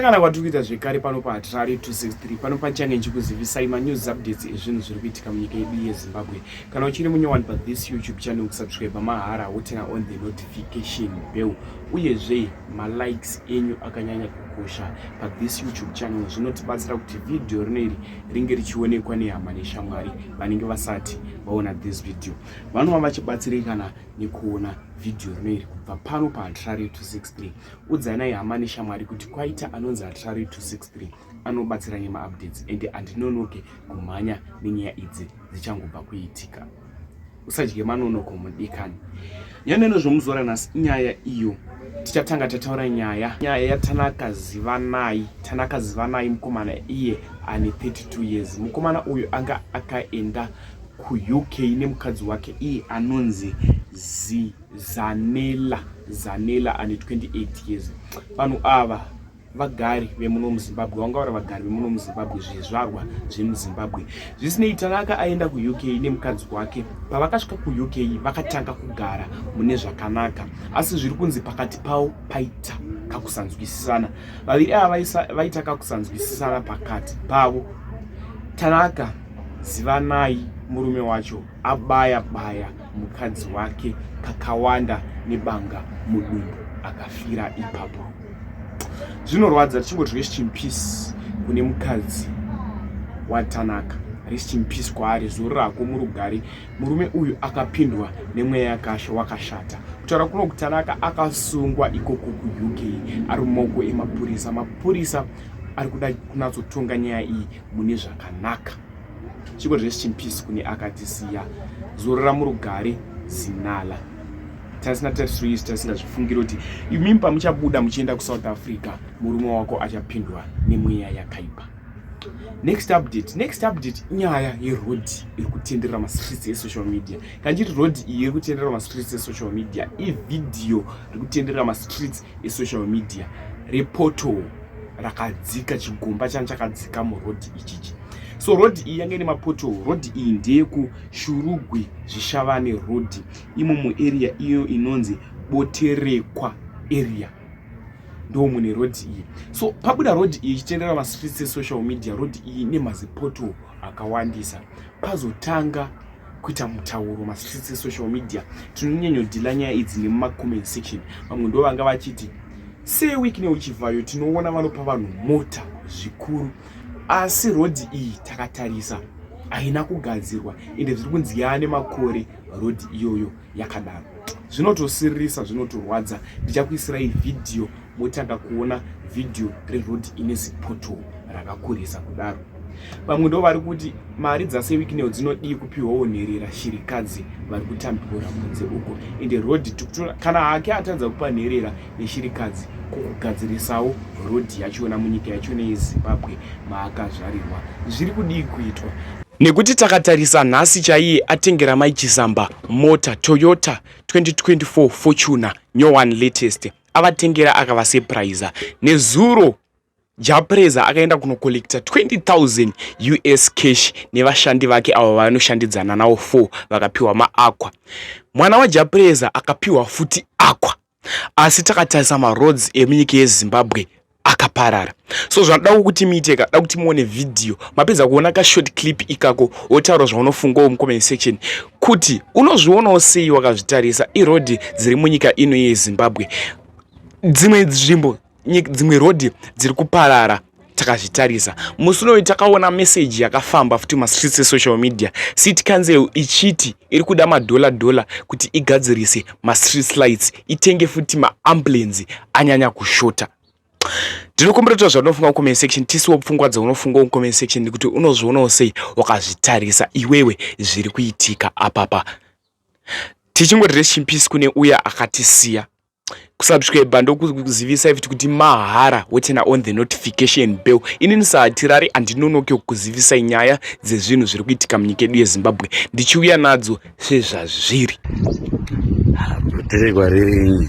kana kwatiri kuita zvekare pano paatirari 263 pano pachange ndichikuzivisai manews updates ezvinhu zviri kuitika munyika yedu yezimbabwe kana uchiri munyowani pathis youtube channel kusubscribe mahara wotena on the notification bell uyezve malikes enyu akanyanya kukosha pathis youtube channel zvinotibatsira kuti vhidhiyo rino iri ringe richionekwa nehama neshamwari vanenge vasati vaona this video vanova vachibatsirikana nekuona vhidhiyo rino iri kubva pano paatirari 263 udzanai hama neshamwari kuti kwaita anonzi atrari 263 anobatsira nemaupdates ende andinonoke kumhanya nenyaya idzi dzichangobva kuitika usadye manonoko mudikani nyaneno zvomuzora nhasi inyaya iyo tichatanga tataura nyaya nyaya yatanaka zivanai tanaka zivanai mukomana iye ane 32 years mukomana uyu anga akaenda kuuk nemukadzi wake iye anonzi zii Zanela Zanela ane 28 years. Vanhu ava vagari vemuno muzimbabwe vangaura vagari vemuno muzimbabwe zvizvarwa zvemuzimbabwe zvisinei tanaka aenda kuuk nemukadzi wake pavakasvika kuuk vakatanga kugara mune zvakanaka asi zviri kunzi pakati pavo paita kakusanzwisisana vaviri ava vaita kakusanzwisisana pakati pavo tanaka zivanai murume wacho abaya baya mukadzi wake kakawanda nebanga mudumbu akafira ipapo zvinorwadza tichingoti rest in peace kune mukadzi watanaka rest in peace kwaari zuru rako murugari murume uyu akapindwa nemweya yakasha wakashata kutaura kuno kutanaka akasungwa ikoko kuuk ari mumoko emapurisa mapurisa ari kuda kunatsotonga nyaya iyi mune zvakanaka chiko rest in peace kune akatisiya zorora murugare zinala tasina tatisoisi tasingazvifungiri kuti imimi pamuchabuda muchienda kusouth africa murume wako achapindwa nemweya yakaipa next update next update inyaya yeroad iri kutenderera mastreets esocial media kana chiti road iyi iri kutenderera mastreets esocial media ivhidhiyo iri kutenderera mastreets esocial media repoto rakadzika chigomba chani chakadzika muroad ichichi so road iyi yange ine mapoto road iyi ndeyekushurugwi zvishavane road imo muarea iyo inonzi boterekwa area ndo mune road iyi so pabuda road iyi ichitendera mastreets esocial media road iyi ine mazipoto akawandisa pazotanga kuita mutauro mastreets esocial media tinonyanyodhila nyaya idzi nemumacoment section vamwe ndo vanga vachiti seweek neuchivhayo tinoona vanopa vanhu mota zvikuru asi rodhi iyi takatarisa haina kugadzirwa ende zviri kunzi yaane makore rodhi iyoyo yakadaro zvinotosiririsa zvinotorwadza ndichakuisirai vhidhiyo motanga kuona vhidhiyo reroad ine zipoto rakakurisa kudaro vamwe ndo vari kuti mari dzasewikineo dzinodii kupiwawo nherera shirikadzi vari kutambura kunze uko ende road kana hake atadza kupa nherera neshirikadzi kukugadzirisawo road yachona munyika yachona yezimbabwe maakazvarirwa zviri kudii kuitwa nekuti takatarisa nhasi chaiye atengera mai chisamba mota toyota 2024 fortuner new one latest avatengera akavasepraiza nezuro japreza akaenda kunokollekta 20000 us cash nevashandi vake avo vanoshandidzana nawo 4 vakapiwa maaqua mwana wajapreza akapiwa futi aqua asi takatarisa maroads emunyika yezimbabwe akaparara so zvanoda kuti muite ka da kuti muone vhidhiyo mapedza kuona ka short clip ikako wotaura zvaunofungawo mucomment section kuti unozvionawo sei wakazvitarisa iroad dziri munyika ino yezimbabwe dzimwe nzvimbo dzimwe road dziri kuparara takazvitarisa musi unoyu takaona meseji yakafamba futi mastreets esocial media city council ichiti iri kuda madhola dhola kuti igadzirise mastreets lights itenge futi maambulenzi anyanya kushota ndinokumbira kuti zvaunofunga mucomment section tisiwo pfungwa dzaunofunga mucomment section nekuti unozvionawo sei wakazvitarisa iwewe zviri kuitika apapa tichingoti rest in peace kune uya akatisiya kusubscribe ndokuzivisa futi kuti mahara wotena on the notification bell inini sahatirari handinonoke kukuzivisai nyaya dzezvinhu zviri kuitika munyika yedu yezimbabwe ndichiuya nadzo sezvazviri kuterekwa ririnyi